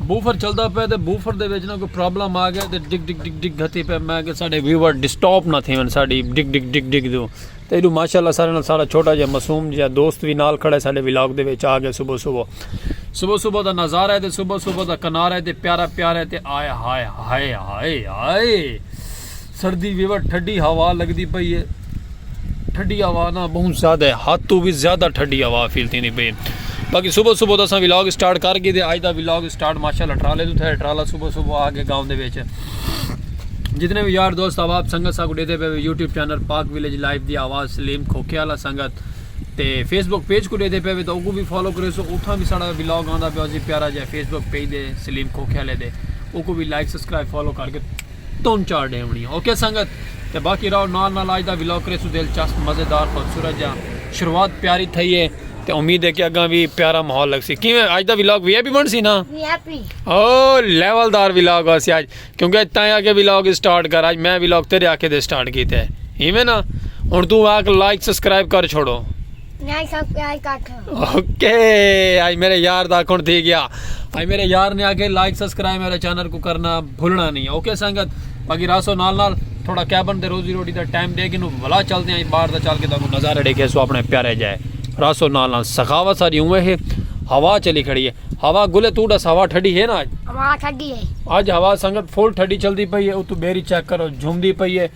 Buffer چلدا پے تے بوفر دے وچ نہ کوئی پرابلم آ گیا تے ڈگ ڈگ ڈگ ڈگ گھتی پے میں کہ ساڈے ویور ڈسٹاپ نہ تھیون ساڈی ڈگ ڈگ ڈگ ڈگ دو تے ایڈو ماشاءاللہ سارے نال سارا چھوٹا جے معصوم جے دوست وی نال کھڑے ساڈے ولاگ دے وچ آ گئے صبح صبح صبح صبح دا نظارہ ہے تے صبح صبح دا کنارہ ہے تے پیارا پیارا ہے تے آئے ہائے ہائے ہائے ہائے سردی وی وٹ ٹھڈی ہوا لگدی پئی اے ٹھڈی ہوا نا بہوں زیادہ ہے حد تو وی زیادہ ٹھڈی ہوا فیل تھیندی پئی باقی صبح صبح دساں ولاگ سٹارٹ کر گئی دے اج دا ولاگ سٹارٹ ماشاءاللہ ٹرالے تو تھے ٹرالا صبح صبح آ گئے گاؤں دے وچ جتنے بھی یار دوست احباب سنگت ساکو ڈیدے پے YouTube channel Pak village life دی آواز سلیم کھوکے والا سنگت تے فیس بک پیج کو ڈیدے پے تو اوکو بھی فالو کرے سو اتھا بھی ساڑا ولاگ آندا پیا سی پیارا جے فیس بک پیج دے سلیم کھوکے والے دے اوکو بھی لائک سبسکرائب فالو کر کے تن چار ڈیونڑیاں اوکے سنگت تے باقی راؤ نال نال آج دا ولاگ کریسوں دلچسپ مزیدار خوبصورت جا شروعات پیاری تھئی ہے تے امید ہے کہ اگاں وی پیارا ماحول لگسی کیویں آج دا ولاگ وی آئی پی بنسی نا او لیول دار ولاگ ہوسی آج کیونکہ اج تائیں آکے ولاگ سٹارٹ کر آج میں ولاگ تیرے آکھے دے سٹارٹ کیتے ایویں نا ہن توں آکھ لائک سبسکرائب کر چھوڑو لائک سبسکرائب کر چھوڑو اوکے آئی میرے یار دا کون تھی گیا آئی میرے یار نے آگے لائک سبسکرائب میرے چینل کو کرنا بھولنا نہیں اوکے سنگت باقی راسو نال نال تھوڑا کیبن دے روزی روٹی دا ٹائم دے گی نو بھلا چل دے ہیں باہر دا چل کے دا کو نظارہ دے کے سو اپنے پیارے جائے راسو نال نال سخاوہ ساری ہوئے ہیں ہوا چلی کھڑی ہے ہوا گلے تو ڈس ہوا ٹھڑی ہے نا آج ہوا ٹھڑی ہے آج ہوا سنگت فول ٹھڑی چل دی پئی ہے او تو بیری چیک کرو جھوم دی پئی ہے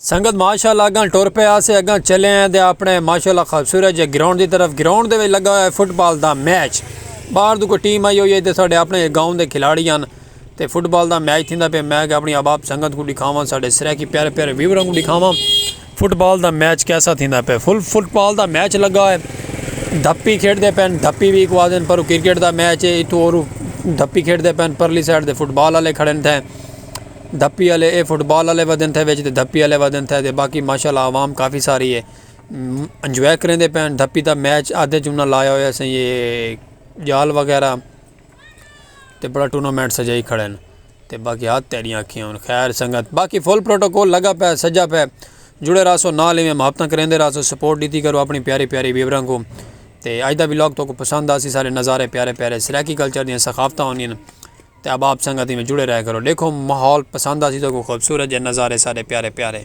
سنگت ماشاءاللہ اگاں ٹر پئے آسے اگاں چلے ہیں دے اپنے ماشاءاللہ خوبصورت جے گراؤنڈ دی طرف گراؤنڈ دے وچ لگا ہویا ہے فٹ بال دا میچ باہر دو کوئی ٹیم آئی ہوئی ہے تے ساڈے اپنے گاؤں دے کھلاڑی ہن تے فٹ بال دا میچ تھیندا پہ میں کہ اپنی احباب سنگت کو دکھاواں ساڈے سرائیکی پیارے پیارے ویوراں کو دکھاواں فٹ بال دا میچ کیسا تھیندا پہ فل فٹ بال دا میچ لگا ہویا ہے دھپی کھیڈ دے پین دھپی بھی کو آدن پر کرکٹ دا میچ ہے اتھو اور دھپی کھیڈ دے پین پرلی سائیڈ دے فٹ بال والے کھڑے تھے دھپی آلے اے فٹ بال آلے ودھن تھے وچ تے دھپی آلے ودھن تھے تے باقی ماشاء اللہ عوام کافی ساری ہے انجوائے کریں دے پین دھپی دا میچ آدھے جنہ لایا ہویا سیں یہ جال وغیرہ تے بڑا ٹورنامنٹ سجائی کھڑے ہیں تے باقی ہاتھ تیریاں کھیں ہیں خیر سنگت باقی فل پروٹوکول لگا پہ سجا پہ جڑے راسو نا لیویں محبتہ کریں دے راسو سپورٹ دیتی کرو اپنی پیاری پیاری ویورہ کو تے آج دا ویلوگ تو کو پسند آسی سارے نظارے پیارے پیارے سرائیکی کلچر دیا سخافتہ ہونی ہیں تے احباب سنگت ایویں جڑے رہیا کرو ڈیکھو ماحول پسند آسی تہاکوں خوبصورت جے نظارے سارے پیارے پیارے۔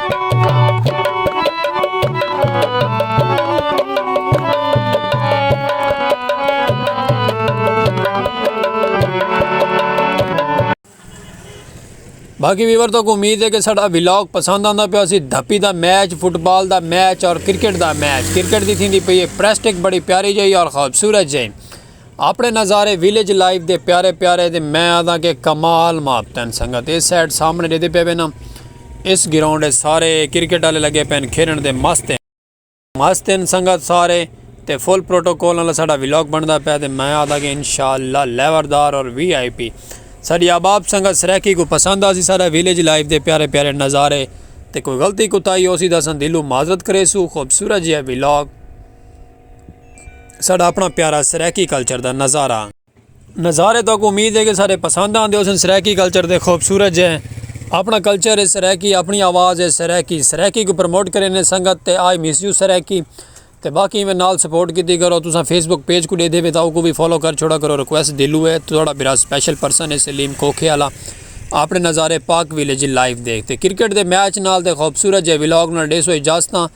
باقی ویور تو کو امید ہے کہ ساڑھا ویلاگ پسند آندا پیا سی دھپی دا میچ فٹ بال دا میچ اور کرکٹ دا میچ کرکٹ دی تھی دی پئی ہے پریسٹک بڑی پیاری جائی اور خوبصورت جائی اپنے نظارے ویلیج لائف دے پیارے پیارے تے میں آدھاں کہ کمال ماپ تین سنگت اس سائیڈ سامنے دیدے پہ وینا اس گراؤنڈ ہے سارے کرکٹ والے لگے پین کھیلن دے مست ہیں مست ہیں سنگت سارے تے فل پروٹوکول والا ساڈا ویلاگ بندا پہ تے میں آدھا کہ انشاءاللہ لیوردار اور وی آئی پی ساڈی آباب سنگت سرکی کو پسند آسی سارا ویلیج لائف دے پیارے پیارے نظارے تے کوئی غلطی کتائی ہو سی دسن دلو معذرت کرے سو خوبصورت جی ہے ویلاگ ساڈا اپنا پیارا سرائیکی کلچر دا نظارہ نظارے تو امید ہے کہ سارے پسند آندے ہو سن سرائیکی کلچر دے خوبصورت جے اپنا کلچر ہے سرائیکی اپنی آواز ہے سرائیکی سرائیکی کو پروموٹ کریں نے سنگت تے آئی مس یو سرائیکی تے باقی میں نال سپورٹ کیتی کرو تساں فیس بک پیج کو دے دے وے تاؤ کو بھی فالو کر چھوڑا کرو ریکویسٹ دلو ہے تھوڑا برا سپیشل پرسن ہے سلیم کوکھے والا اپنے نظارے پاک ویلیج لائیو دیکھتے کرکٹ دے میچ نال تے خوبصورت جے ولاگ نال ڈیسو اجازتاں